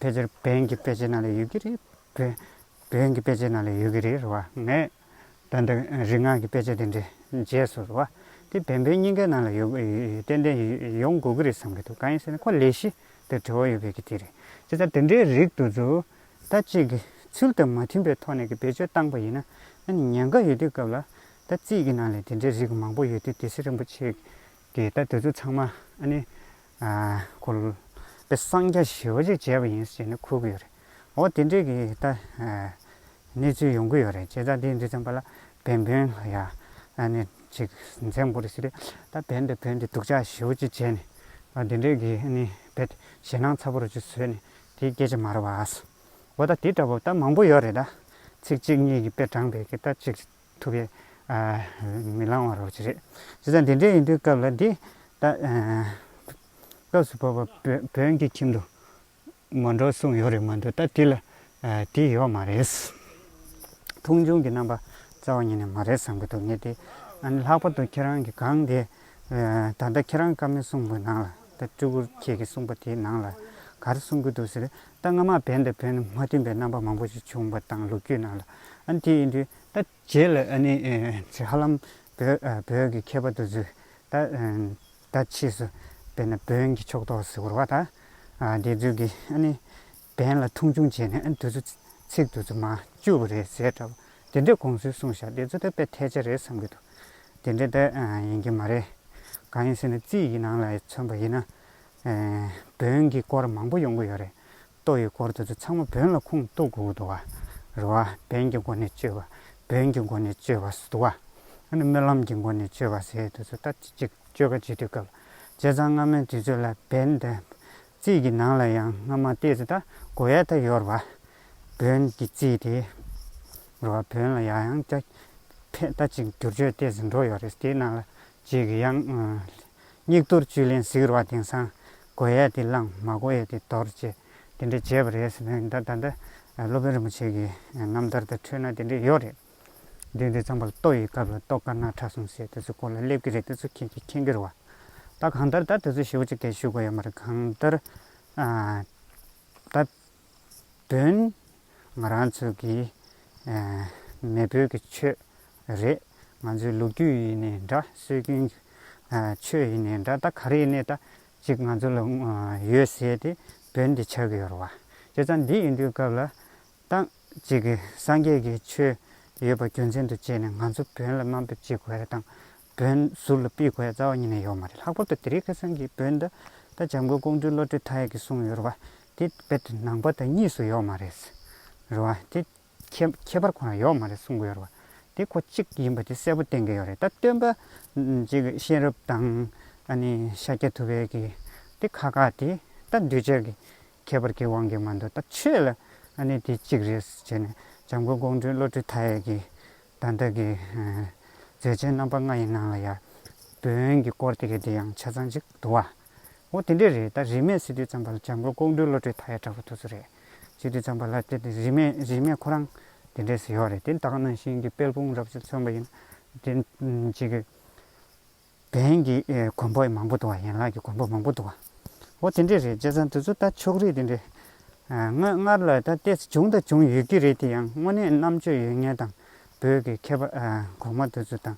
ཕལ་ཆེར་བོན་གྱི་དཔེ་ཆའི་ནང་ལ་ཡོད་ཀྱི་རེད། བོན་གྱི་དཔེ་ཆའི་ནང་ལ་ཡོད་ཀྱི་རེད་རེད་བ། ངས་ད་འདི་རིག་སྔགས་ཀྱི་དཔེ་ཆ་དེ་འདྲའི་རྗེས་སུ་རེད་བ། དེ་བན་བོན་གཉིས་ཀའི་ནང་ལ་ཡོད་ཏན་ཏན་ཡོང་དགོས་ཀྱི་རེད་བསམ་གྱི་འདུག་གང་ཡིན་ཟེར་ན་ཁོ་ལས་གཞི་དེར་དྲི་བ་ཡོད་པའི་གི་དེ་རེད། དེ་ལྟར་དེ་འདྲའི་རིགས་དུ་ཚོ་ད་གཅིག་གི་ཚུལ་དང་མ་མཐུན་པའི་ཐོག་ནས་གི་བེད་སྤྱོད་བཏང་པ་ཡིན་ན་ཨ་ནི་ཉེན་ཁ་ཡོད་དུས་སྐབས་ལ་ད་རྩིས་ཀྱི་ནང་ལས་དེ་འདྲའི་རིགས་མང་པོ་ཡོད་དུས་དེ་སེ་རིན་པོ་ཆེ་གིས་ད་དེ་ཚོ་ཚང་མ་ཨ་ནི་ཁོ་ལ་པའི་གསང་རྒྱ་ཞི་བ་ཅིག་བྱས་པ་ཡིན་ཞེས་ནི་འཁོད་ཀྱི་ཡོད་རེད། འོ་དེ་འདྲའི་གི་ད་གནས་ཚུལ་ཡོང་གི་ཡོད་རེད་བྱས་ཙང་དེ་འདི་ཙམ་པ་ལ་བན་བོན་ལ་ཡང་ནི་ཅིག་འཛེམ་དགོས་རེད་ཟེར་རེད། ད་བན་དང་བོན་དེ་སྡུག་ཅག་ཞི་བ་ཅིག་བྱས་ནས་འདི་འདྲའི་གི་ནི་བེད་ཞེ་སྣང་ཚ་པོ་རུ་ཅིག་བཟོས་ནས་དེ་སྐད་ཅིག་མ་རེད་བ། འོ་ད་དེ་འདྲ་པོ་ད་མང་པོ་ཡོད་རེད་ད། ཚིག་གཅིག་གཉིས་ཀྱི་དཔེ་དྲངས་པས་གི་ད་ཅིག་ཐུབ་པས། མི་ལང་བར་རོ་གཅིག་རེད། ཇི་ལྟར་འདི་འདྲའི་ཡིན་དུས་སྐབས་ལ་འདི། སྐབས་སུ་བབ་པ་བོན་གྱི་ཁྱིམ་དུ། མ་འགྲོ་གསུངས་ཡོད་རེད་མ་འདུག་ད་དེ་ལ། དེ་ཡོད་མ་རེད། མཐོང་ཆུང་གི་རྣམ་པ་རྩ་བ་ཉིད་ནས་མ་རེད་བསམ་གྱི་འདུག་ངས་དེ། ལྷག་པར་དུ་ཁྱེད་རང་གི་སྒང་དེ། ད་ལྟ་ཁྱེད་རང་བཀའ་མོལ་གསུངས་པའི་ནང་ལ། ད་སྤྲུལ་སྐུ་ཁྱེད་ཀྱིས་གསུངས་པ་དེའི་ནང་ལ། ག་རེ་གསུངས་ཀྱི་འདུག་ཟེར། ད་སྔ་མ་བན་དང་བན་མ་མཐུན་པའི་རྣམ་པ་མང་པོ་ཞིག་བྱུང་བ་དང་ལུགས་རྒྱུད་ནང་ལ་ཨ་ནི་དེ་ཡིན་དུས་ད། རྗེས་ལ་ཨ་ནི་ཚེ་ཧ་ལམ་བོད་བོད་ཀྱི་མཁས་པ་དུ་ཚོས་ད་ད་ཕྱིས་སུ་བན་དང་བོན་གྱི་ཕྱོགས་གཏོགས་སུ་གྱུར་བ་དང། དེ་ཚོས་ཀྱིས་ཨ་ནི་བན་ལ་མཐོང་ཆུང་བྱས་ནས་ཨ་ནི་དུ་ཚོ་ཚིག་དུ་ཚོ་མ་བཅོས་པ་རེད་ཟེར་འདྲ་བ་དེ་འདྲའི་དགོངས་ཚུལ་གསུངས་བཞག་དེ་ཚོ་ད་དཔེ་ཐལ་ཆ་རེད་བསམ་གྱི་འདུག་དེ་འདྲ་ད་ཡིན་གྱི་མ་རེད། གང་ཡིན་ཟེར་ན་རྩིས་ཀྱི་ནང་ལ་མཚོན་པ་ཡིན་ན། བོན་གྱི་སྐོར་མང་པོ་ཡོང་གི་ཡོད་རེད། ཏོ་ཡི་སྐོར་དེ་ཚོ་ཚང་མ་བོན་ལ་ཁུངས་གཏུགས་དགོས་འདུག་རེད་བ། བན་གྱི་སྒོ་ནས་བཅོས་པ་བོན་གྱི་སྒོ་ནས་བཅོས་པ་ཟེར་འདུག་བ། ཨ་ནི་སྨོན་ལམ་གྱི་སྒོ་ནས་བཅོས་པ་ཟེར་དེ་ཚོ་ད་ཅི་ཅིག་བཅོས་ཀ་བྱེད་དུས་སྐབས་བྱས་ཙང་སྔ་མོའི་དུས་ཚོད་ལ་བན་དེ། རྩིས་ཀྱི་ནང་ལ་ཡང་སྔ་མ་ལྟས་ཚེ་ད་གོ་ཡ་ད་ཡོད་རེད་བ། བོན་གྱི་རྩིས་དེ། རེད་བ་བོན་ལ་ཡ་ཡང་སྐྱ་འཕེན་ད་ཅིག་བསྒྱུར་བཅོས་ལྟས་ཚེ་འགྲོ་ཡོད་རེད་དེའི་ནང་ལ་རྗེས་ཀྱི་ཡང། སྙིགས་དོར་བཅུད་ལེན་ཟིག་རོ་བ་དེང་སང་གོ་ཡས་ཏེ་བླངས་མ་གོ་ཡས་ཏེ་དོར་ཅེས་དེ་འདྲས་བྱས་པ་རེད་ཟེར་ན་ད་ལྟ་སློབ་དཔོན་རིན་པོ་ཆེ་གི་རྣམ་ཐར་དུ་འཕྲོས་ན་དེ་འདྲས་ཡོད་རེད། འདི་འདི་ཙམ་པར་ལྟོ་ཡི་སྐབས་ལ་ལྟོ་དཀར་ནག་ཁྲ་གསུམ་བྱས་དེ་ཚོའི་སྐོར་ལ་སླེབས་ཀྱི་རེད་དེ་ཚོ་མཁྱེན་གྱི་མཁྱེན་གྱི་རེད་བ། ད་གང་ལྟར་ད་དེ་ཚོ་ཞེ་བོ་ཅིག་དེ་ཞུ་དགོས་ཡོད་མ་རེད་གང་ལྟར། ད། དོན། ང་རང་ཚོས་ཀྱི་མེས་པོའི་ཀྱི་ཆོས་རེད། ང་ཚོའི་ལོ་རྒྱུས་ཡིན་ནས་འདྲ་སྲོལ་རྒྱུན་ཆོས་ཡིན་ནས་འདྲ་ད་ག་རེ་ནས་ད་ཅིག་ང་ཚོ་ལ་ཡོད་ཟེར་ཏེ་བོད་འདི་ཆགས་ཡོད་རོ། བྱས་ཙང་འདི་ཡིན་དུས་སྐབས་ལ་ད་ཅིག་སངས་རྒྱས་ཀྱི་ཆོས་ཡོད་པ་རྒྱུ་མཚན་དུ་བྱས་ནས་ང་ཚོ་བོད་ལ་དམའ་འབེབས་བྱེད་དགོས་རེད་དང། བོན་ཟུར་ལ་སྤེལ་དགོས་ཡ་རྩ་བ་ཉིད་ནས་ཡོད་མ་རེད་ལྷག་པར་དུ་དེ་རིང་ཁ་སང་གི་བོན་ད་ལྟ་འཇམ་མགོན་ཀོང་སྤྲུལ་བློ་གྲོས་མཐའ་ཡས་ཀྱིས་གསུངས་ཡོད་རེད་བ་དེ་རྦད་དེ་ནང་པ་དང་གཉིས་སུ་ཡོད་མ་རེད་རེད་བ་དེ་ཁྱད་ཁྱད་པར་ཁོ་རང་ཡོད་མ་རེད་གསུངས་གི་ཡོད་རེད་བ་དེ་ཁོ་གཅིག་ཡིན་པ་དེ་གསལ་པོ་བསྟན་གི་ཡོད་རེད་ད་སྟོན་པ་རྗེ་གཤེན་རབ་དང་ཨ་ནི་ཤཱཀྱ་ཐུབ་དབལ་གྱི་དེ་ཁ་ཁ་དེ་ད་འདུས་བྱས་ཀྱི་ཁྱད་པར་གྱི་དབང་གིས་མ་འདུག་ད་ཆོས་ལ་ཨ་ནི་དེ་གཅིག་རེད་ཟེར་བྱས་ནས་འཇམ་མགོན་ཀོང་སྤྲུལ་བློ་གྲོས་མཐའ་ཡས་ཀྱིས། དང་བདག་གི་མཛད་ཆེན་རྣམ་པ་ལྔ་ཡི་ནང་ལ་ཡང། བོན་གྱི་སྐོར་དེ་གའི་དེ་ཡང་ཆ་ཚང་ཅིག་འདུག་བ། འོ་དེ་འདྲས་རེད་ད་རིས་མེད་སི་ཏུའི་ཚངས་པ་ལ་བྱམས་མགོན་ཀོང་སྤྲུལ་བློ་གྲོས་མཐའ་ཡས་གྲགས་པ་དུ་ཚོ་རེད། སི་ཏུའི་ཚངས་པ་ལ་དེ་དེ་རིས་མེད་རིས་མེད་ཁོ་རང་དེ་འདྲས་སུ་ཡོད་རེད་དེ་དག་ནང་བཞིན་གྱི་དཔལ་སྤུངས་རབ་བྱུང་མཚོན་པ་ཡིན། དེ་འཇིགས། བན་གྱི་མགོན་པོ་མང་པོ་འདུག་བ་ཡན་ལག་གི་མགོན་པོ་མང་པོ་འདུག་བ། འོ་དེ་འདྲས་རེད་བྱས་ཙང་དེ་ཚོ་ད་ཕྱོགས་རིས་དེ་འདྲས། ངོས་སྔར་ལ་ད་ལྟས་སུ་བྱུང་དང་བྱུང་ཡོད་ཀྱི་རེད་དེ་ཡང་དངོས་གནས་རྣམ་དཔྱོད་ཡོད་ངེས་དང་བོད་ཀྱི་མཁས་པ་གོང་མ་དེ་ཚོ་དང།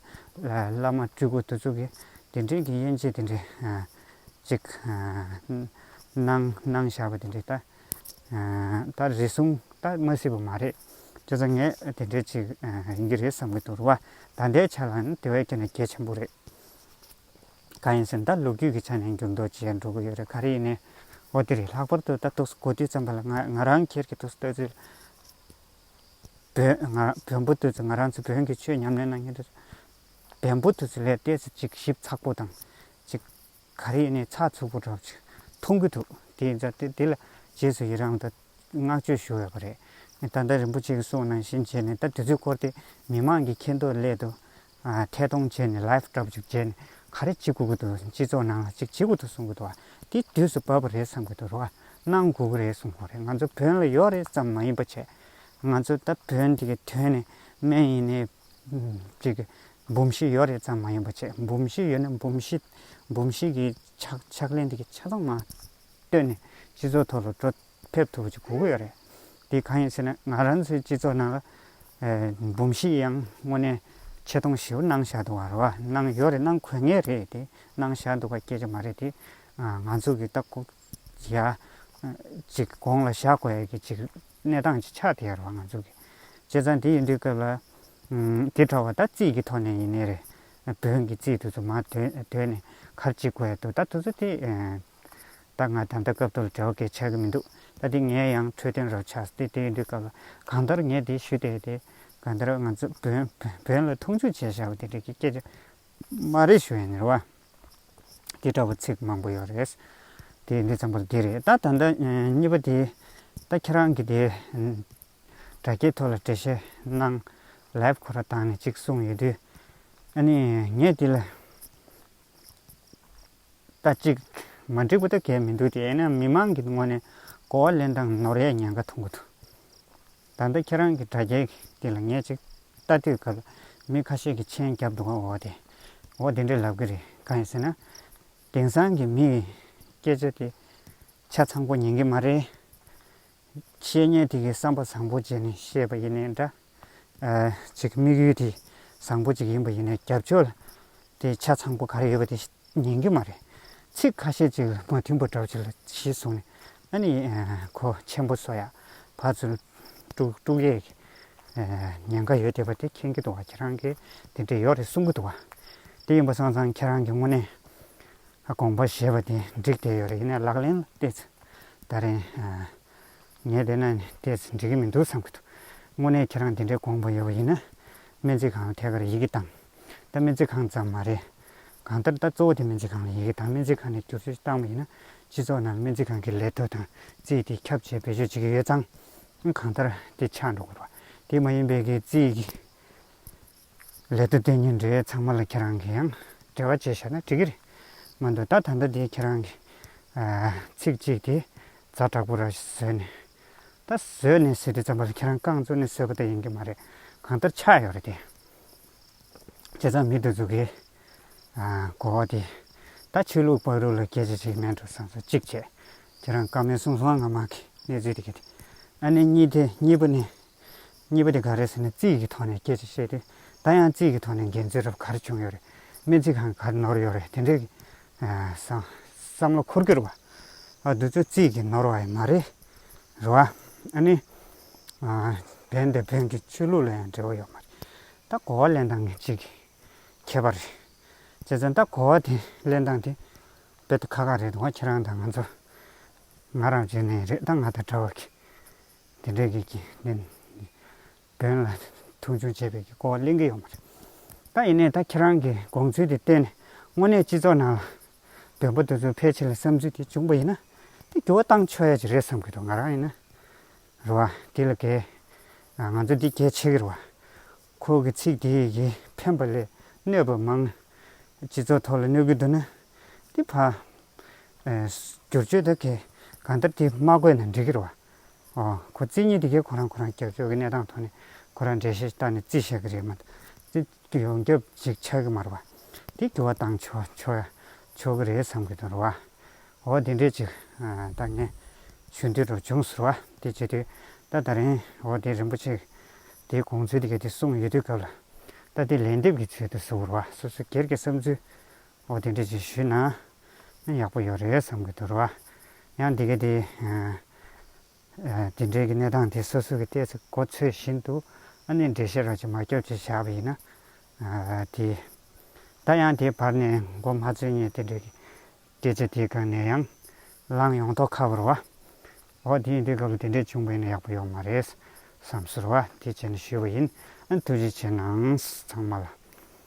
བླ་མ་སྤྲུལ་སྐུ་དེ་ཚོ་གིས་དེ་འདྲས་ཀྱི་དབྱེ་འབྱེད་དེ་འདྲས་ཅིག་གནང་གནང་བཞག་པ་དེ་འདྲས་ད། ད་རེ་ཟུང་ད་མ་སྲིད་པ་མ་རེད། ཁྱོད་ཚོ་ངས་དེ་འདྲའི་ཅིག་ཡིན་གྱི་རེད་བསམ་གྱི་འདུག་རེད་བ། ད་ལྟའི་ཆ་ལ་ནི་དེ་བས་ཀྱང་ནི་གལ་ཆེན་པོ་རེད། གང་ཡིན་ཟེར་ན་ད་ལོ་རྒྱུས་ཀྱི་ཆ་ནས་འགྱུར་ལྡོག་ཇི་ཡང་འགྲོ་གི་ཡོད་རེད་ག་རེ་ཡིན་ནའི་འོ་དེ་རེད་ལྷག་པར་དུ་ད་ཐུགས་སུ་གོ་དུས་ཙམ་པ་ལ་ང་ང་རང་ཁྱེར་གྱི་ཐུགས་སུ་ལྟོས་ཚེ། བོན་ང་རང་བོན་པོ་ལྟོས་ཚེ་ང་རང་ཚོ་བོན་གྱི་ཆོས་ཉམས་ལེན་གནང་མཁན་ཚོ། བན་པོ་ལྟོས་ཚེ་ལས་གཏད་ཚེ་ཅིག་ཞིབ་ཚགས་པོ་དང་ཅིག། ག་རེ་ནས་ཚགས་ཚུད་པོ་གྲོགས་ཅིག་མཐོང་གི་འདུག་དེ་ད་ལྟ་དེ་ལ་རྗེས་སུ་ཡི་རང་དང་བསྔགས་བརྗོད་ཞུ་འོས་པ་རེད། ད་ལྟ་རིན་པོ་ཆེ་གི་གསུང་ནང་བཞིན་བྱས་ནས་ད་དུས་ཚོད་སྐོར་དེ་མི་མང་གི་ཁེ་འདོད་སླད་དུ། ཐད་གཏོང་བྱས་ནས live སྐྲག་བཅུག་བྱས་ནས་ག་རེ་བྱེད་དགོས་ཀྱི་འདུག་སྤྱི་ཚོགས་ནང་ལ་ཅིག་བྱེད་དགོས་འདུག་གསུང་གི་འདུག་བ་དེ་དུས་སུ་བབ་པ་རེད་བསམ་གྱི་འདུག་རོགས་གནང་དགོས་ཀྱི་རེད་གསུང་བ་རེད་ང་ཚོ་བོན་ལ་ཡོད་རེད་བསམ་མ་ཡིན་པ་བྱས། ང་ཚོ་ད་བོན་དེ་གའི་དོན་ནས་སྨན་ཡིན་ནས། གཅིག། འབུམ་བཞི་ཡོད་རེད་ཙམ་མ་ཡིན་པ་བྱས། འབུམ་བཞི་ཡོད་ན་འབུམ་བཞི། འབུམ་བཞི་གི་ཕྱག་ལེན་དེ་ཆ་ཚང་མ་བཏོན་ནས་སྤྱི་ཚོགས་ཐོག་ལ་འགྲོ་ཕེབས་ཐུབ་པ་ཅིག་གོ་གི་ཡོད་རེད། དེ་གང་ཡིན་ཟེར་ན་ང་རང་ཚོའི་སྤྱི་ཚོགས་ནང་ལ། འབུམ་བཞི་ཡང་དངོས་གནས་ཆེ་མཐོང་ཞེ་བོ་གནང་བཞག་འདུག་བ་རེད་བ། གནང་ཡོད་རེད་གནང་དགོས་ངེས་རེད་དེ། གནང་བཞག་འདུག་པ་སྐྱེལ་རྒྱུ་མ་རེད་དེ། ང་ཚོ་གི་ལྟ་སྐོར་ཡ། གཅིག་དགོངས་ལ་བཞག་དགོས་ཀྱི་ཅིག་གནས་སྟངས་ཀྱི་ཆ་དེ་ཡོད་པ་ང་ཚོས་གི། བྱས་ཙང་དེ་ཡིན་དུས་སྐབས་ལ། དེ་ཐོག་བ་ད་རྩིས་ཀྱི་ཐོག་ནས་ཡིན་ནི་རེད། བོན་གྱི་རྩིས་དུས་ཚོད་མ་དོད་ནས་གར་ཅིག་གོ་ཡ་འདུག་ད་དུས་ཚོད་དེ། ད་ང་ད་ལྟ་སྐབས་ཐོག་ལ་བྲེལ་བ་གས་ཆགས་ཀྱི་མི་འདུག་ད་དེ་ངས་ཡང་འཕྲོད་བསྟེན་རོགས་ཆགས་ཏེ་དེ་ཡིན་དུས་སྐབས་ལ་གང་ལྟར་ངས་དེ་ཞུས་ཏེ་དེ། གང་ལྟར་ང་ཚོ་བོན་བོན་ལ་མཐོང་ཆུང་བྱས་བཞག་པ་དེ་འདྲ་གི་སྐད་ཆ། མ་རེད་ཞུ་ཡིན་རེད་བ། དེ་འདྲ་བོ་ཚིག་མང་པོ་ཡོད་རེད། དེ་འདི་ཙམ་པོ་དེ་རེད་ད་ད་ལྟ་གཉིས་པ་དེ་ད་ཁྱེད་རང་གི་དེ་དྲ་རྒྱའི་ཐོག་ལ་འགྲེལ་བཤད་གནང live ཁོ་ར་བཏང་ནས་ཅིག་གསུངས་ཡོད་དུས། ཨ་ནི་ངས་དེ་ལ་ད་ཅིག་མ་འགྲིག་པོ་ད་གས་མི་འདུག་དེ་ཡིན་ན་མི་མང་གི་ངོ་ནས་གོ་བ་ལེན་སྟངས་ནོར་ཡས་ཉེན་ཁ་ཐོང་གི་འདུག། ད་ལྟ་ཁྱེད་རང་གི་དྲ་རྒྱའི་འདི་ལ་ངས་ཅིག་ལྟ་དུས་སྐབས་ལ་མི་ཁ་ཤས་ཀྱི་མཆན་རྒྱབ་འདུག་ཨོ་དེ། ཨོ་དེ་འདྲའི་ལབ་གི་རེད་གང་ཡིན་ཟེར་ན། དེང་སང་གི་མི་ཡི་སྐད་ཆ་དེ་ཆ་ཚང་པོ་ཉན་གི་མ་རེད། བཤད་ཉན་དེ་གི་བསམ་པ་བཟང་པོ་བརྗེད་ནས་བཤད་པ་ཡིན་ནའི་འདྲ། ཅིག་དམིགས་ཡུལ་དེ་བཟང་པོ་ཅིག་ཡིན་པ་ཡིན་ནའི་རྒྱབ་ཕྱོགས་ལ་དེ་ཆ་ཚང་པོ་ག་རེ་ཡོད་པ་དེ། ཉན་གི་མ་རེད། ཚིག་ཁ་ཤས་ཅིག་མ་མཐུན་པོ་འདྲ་བ་ཅིག་ལ་གཞི་བཟུང་ནས་ཨ་ནི་གོ་ཆེན་པོ་བཟོ་ཡ་བར་ཚུར་དཀྲུགས་དཀྲུགས་ཡས་ཀྱི་ཉན་ཁ་ཡོད་བསྡད་པ་དེ་མཁྱེན་གི་འདུག་བ་ཁྱེད་རང་གི་དེ་འདྲས་ཡོད་རེད་གསུང་གི་འདུག་བ། དེ་ཡིན་པ་སང་ཙང་ཁྱེད་རང་གི་དངོས་གནས་དགོངས་པ་བཞེས་པ་དེ་འགྲིག་བསྡད་ཡོད་རེད་ཡིན་ནའི་ལག་ལེན་ལ་བལྟས་ཚེ་ད་རེས་ངས་བལྟས་ན་ནི་བལྟས་ཚེ་འགྲིག་གི་མི་འདུག་བསམ་གི་འདུག་དངོས་གནས་ཁྱེད་རང་དེ་འདྲས་དགོངས་པ་ཡོད་པ་ཡིན་ན་སྨན་རྩིས་ཁང་ལ་ཐད་ཀར་ཡིག་གིས་བཏང། ད་སྨན་རྩིས་ཁང་ཙམ་མ་རེད། གང་ལྟར་ད་གཙོ་བོ་དེ་སྨན་རྩིས་ཁང་ལ་ཡི་གེ་དང་སྨན་རྩིས་ཁང་ནས་བསྒྱུར་བཅོས་བཏང་བ་ཡིན་ན་སྤྱི་ཚོགས་ནང་སྨན་རྩིས་ཁང་གི་ལས་དོན་དང་རྩིས་དེ་ཁྱབ་ཆེ་བེད་སྤྱོད་བྱེད་ཀྱི་ཡོད་ཙང། གང་ལྟར་དེ་ཆགས་འགྲོ་དགོས་པ་དེ་མ་ཡིན་པའི་གི་རྩིས་ཀྱི་ལས་དོན་དེ་ཉིན་རེའི་ཚང་མ་ལ་ཁྱེད་རང་གི་ཡང་འབྲེལ་བ་བྱས་ཤག་ན་འགྲིག་གི་རེད་མ་འདུག་ད་ད་ལྟ་དེ་ཁྱེད་རང་གི་ཚིག་གཅིག་དེ་རྫ་དྲག་པོ་ར་བཟོས་ནས་ད་བཟོས་ནས་ཟེར་དུས་ཙམ་པ་ལ་ཁྱེད་རང་རྐང་བཙུགས་ནས་བཟོས་པ་ད་ཡིན་གྱི་མ་རེད་གང་ལྟར་ཆགས་ཡོད་རེད་དེ། བྱས་ཙང་མིད་དུ་འཛུག་གི། གོ་བ་དེ། ད་ཆོས་ལུགས་དཔའ་རུ་ལ་སྐད་ཆ་ཞིག་སྨྲས་འགྲོ་བསམ་སོ་གཅིག་བྱས། ཁྱེད་རང་བཀའ་མོལ་གསུང་སོང་ང་མང་གི་གནས་ཚུལ་དེ་གི་དེ། ཨ་ནེ་གཉིས་དེ་གཉིས་པ་ནི། གཉིས་པ་དེ་ག་རེད་ཟེར་ན་རྩིས་ཀྱི་ཐོག་ནས་སྐད་ཆ་བཤད་དུས་ད་ཡང་རྩིས་ཀྱི་ཐོག་ནས་འགན་འཛོལ་རབས་གར་བྱུང་ཡོད་རེད་སྨན་རྩིས་ཁང་གར་ནོར་ཡོད་རེད་དེ་འདྲའི་གི། བསམ་བློ་འཁོར་གྱུར་བ། ཨ་དུ་ཚོ་རྩིས་ཀྱི་ནོར་བ་ཡི་མ་རེད་རོ། ཨ་ནེ། བན་དེ་བོན་གྱི་ཆོས་ལུགས་ལ་ཡང་འབྲེལ་བ་ཡོད་མ་རེད། ད་གོ་བ་གླེང་སྟངས་ནི་གཅིག་ཁྱད་པར་རེད། བྱས་ཙང་ད་གོ་བ་དེ་གླེང་སྟངས་དེ་རྦད་དེ་ཁག་ཁག་རེད་འདུག་ཁྱེད་རང་དང་ང་ཚོ་ང་རང་བྱས་ནས་རེད་ད་ང་དང་འདྲ་བ་གིས་དེ་འདྲས་གིས་ཀྱིས་ནི་བོན་ལ་མཐོང་ཆུང་བྱས་པའི་གི་གོ་བ་གླེང་གི་ཡོད་མ་རེད། ད་ཡིན་ནའི་ད་ཁྱེད་རང་གི་དགོངས་ཚུལ་དེ་གཏན་ནས་དངོས་གནས་སྤྱི་ཚོགས་ནང་ལ་འདོན་པ་འདི་ཚོ་ཕལ་ཆེར་ལ་བསམ་ཚུལ་དེ་བྱུང་པ་ཡིན་ན་དེ་འགྱུར་བ་བཏང་ཆོག་ཡ་ཅིག་རེད་བསམ་གི་འདུག་ང་རང་ཡིན་ན་རེད་བ་དེ་ལ་གལ་ང་ཚོ་འདི་གལ་ཆེ་གི་རེད་བ། ཁོ་གི་ཚིག་དེ་ཡི་ཕན་པ་ལས་གནོད་པ་མང། སྤྱི་ཚོགས་ཐོག་ལ་གནོད་གི་འདུག་ན་དེ་ཕ། བསྒྱུར་བཅོས་དེ་གལ་གང་ལྟར་དེ་མ་དགོས་ན་འགྲིག་གི་རེད་བ། ཨོ་ཁོ་རྩིས་ཉེས་དེ་གལ་ཁོ་རང་ཁོ་རང་རྒྱབ་སྐྱོར་གི་གནས་སྟངས་ཐོག་ནས་ཁོ་རང་འགྲེལ་བཤད་བཏང་ནས་རྩིས་བཤད་གི་རེད་མ་གཏོགས་རྩིས། དུ་ཡོང་རྒྱབ་ཅིག་ཆགས་ཀྱི་མ་རེད་པ། དེ་འགྱུར་བ་བཏང་ཆོག་གི་རེད་བསམ་གྱི་འདུག་རེད་བ། འོ་དེ་འདྲས་ཅིག་ད་ངས་ཞུ་འདོད་དུ་བྱུང་ཟེར་བ་དེ་བྱས་དུས་ད་ད་རིང་འོ་དེ་རིན་པོ་ཆེ་དེའི་དགོངས་ཚུལ་དེ་ག་དེ་གསུངས་ཡོད་དུས་སྐབས་ལ་ད་དེ་ལན་འདེབས་ཀྱི་ཚུལ་དུ་ཟེར་བ་སོ་སོ་སྒེར་གྱི་བསམ་ཚུལ་འོ་དེ་འདྲས་ཅིག་ཞུས་ན་ཡག་པོ་ཡོད་རེད་བསམ་གྱི་འདུག་རེད་བ། ཡང་དེ་ག་དེ། དེ་འབྲེལ་གྱི་གནས་སྟངས་དེ་སོ་སོ་གྱི་ལྟས་ཚོད་གོ་ཚོད་བཞིན་དུ་ཨ་ནེ་འགྲེལ་བཤད་རོགས་ཀྱིས་མ་སྐྱོབ་ཅེས་བྱ་བ་ཡིན་ན། དེ། ད་ཡང་དེའི་བར་ནས་མགོ་མ་ཚོས་ངས་དེ་འབྲེལ་གྱི་སྐད་ཆ་དེའི་སྐབས་ནས་ཡང་བསླངས་ཡོང་ཐོག་ཁ་བོར་བ། འོ་དེ་ཡིན་དེའི་སྐབས་ལ་དེ་འདྲས་བྱུང་བས་ན་ཡག་པོ་ཡོད་མ་རེད་བསམ་ཟུར་བ་དེ་བྱས་ནས་ཞུས་པ་ཡིན། ཨ་ཐུགས་རྗེ་ཆེ་གནང་ཚང་མ་ལ།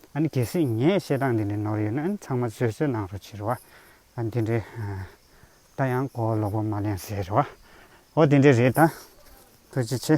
ཨ་ནི་གལ་སྲིད་ངས་བཤད་སྟངས་འདི་འདྲས་ནོར་ཡོད་ན་ཨ་ནི་ཚང་མ་བཟོད་གསོལ་གནང་རོགས་ཕྱིར་བ། ཨ་འདི་འདྲས། ད་ཡང་གོ་ལོག་པོ་མ་ལེན་ཟེར་བ་འོ་དེ་འདྲས་རེད་ད་ཐུགས་རྗེ་ཆེ།